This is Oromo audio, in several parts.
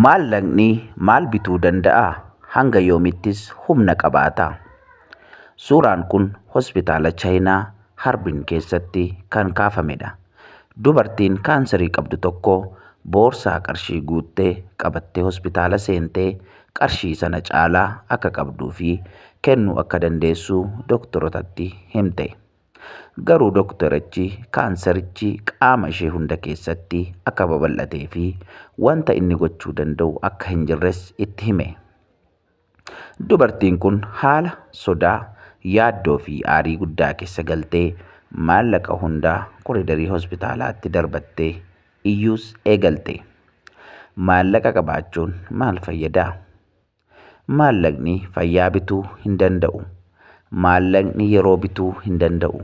Maallaqni maal bituu danda'a? Hanga yoomittis humna qabaata? Suuraan kun hospitaala Chaayinaa Harbin keessatti kan kaafamedha. Dubartiin kaansarii qabdu tokko boorsaa qarshii guutte qabattee hospitaala seentee qarshii sana caalaa akka qabduu fi kennuu akka dandeessu doktorotatti himte. Garuu doktarichi kaansarichi qaama ishee hunda keessatti akka babal'atee fi wanta inni gochuu danda'u akka hin jirres itti hime. Dubartiin kun haala sodaa, yaaddoo fi aarii guddaa keessa galtee maallaqa hundaa koridarii hospitaalaatti darbattee iyyuus eegalte. Maallaqa qabaachuun maal fayyadaa? Maallaqni fayyaa bituu hin danda'u. Maallaqni yeroo bituu hin danda'u.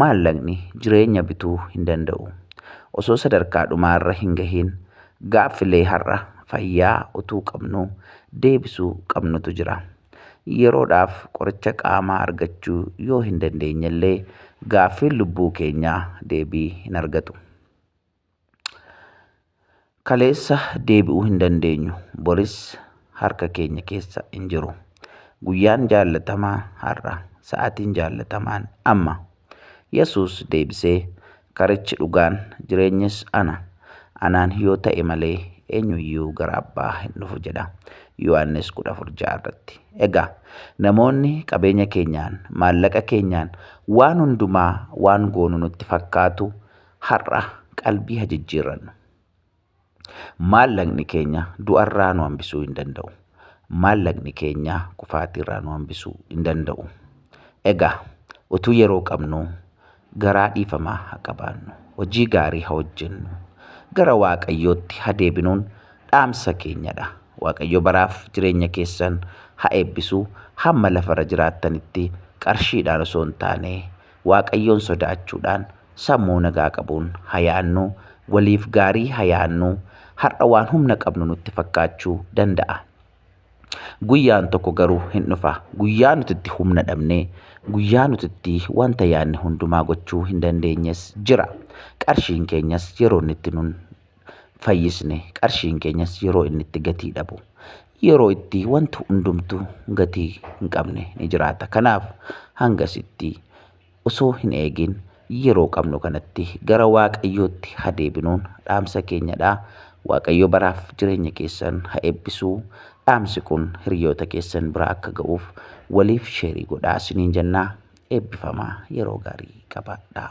Maallaqni jireenya bituu hin danda'u. Osoo sadarkaa dhumaarra hin gahiin gaaffilee har'a fayyaa utuu qabnuu deebisuu qabnutu jira. Yeroodhaaf qoricha qaamaa argachuu yoo hin dandeenyellee gaaffiin lubbuu keenyaa deebii hin argatu. Kaleessa deebi'uu hin dandeenyu. Boris harka keenya keessa hin jiru. Guyyaan jaallatamaa har'a. Sa'aatiin jaallatamaan amma. Yesuus deebisee, Karichi dhugaan, jireenyis ana. Anaan yoo ta'e malee eenyu iyyuu gara Abbaa hin dhufu jedha. Yohaannis 14:6 irratti. Egaa namoonni qabeenya keenyaan, maallaqa keenyaan waan hundumaa waan goonu nutti fakkaatu har'a qalbii ha jijjiirrannu. Maallaqni keenya du'arraa nu hambisuu hin danda'u. Maallaqni keenya kufaatiirraa nu hambisuu hin danda'u. Egaa utuu yeroo qabnuu garaa dhiifamaa ha qabaannu. Hojii gaarii ha hojjennu. Gara Waaqayyootti ha deebinuun dhaamsa keenyadha. Waaqayyo baraaf jireenya keessan ha eebbisu. Hamma lafarra jiraattanitti qarshiidhaan osoo hin taane Waaqayyoon sodaachuudhaan sammuu nagaa qabuun ha yaannu, waliif gaarii ha yaannu, har'a waan humna qabnu nutti fakkaachuu danda'a. Guyyaan tokko garuu hin dhufa. Guyyaa nuti itti humna dhabne, guyyaa nuti itti wanta yaanne hundumaa gochuu hin dandeenyes jira. Qarshiin keenyas yeroo inni itti nun fayyisne qarshiin keenyas yeroo inni itti gatii dhabu yeroo itti wanti hundumtu gatii hin qabne ni jiraata. Kanaaf hangasitti osoo hin eegin yeroo qabnu kanatti gara Waaqayyootti ha deebinuun dhaamsa keenyadha. Waaqayyo baraaf jireenya keessan ha eebbisu. Dhaamsi kun hiriyoota keessan bira akka ga'uuf waliif sheerii godhaa isiniin jennaa eebbifamaa yeroo gaarii qabaadhaa.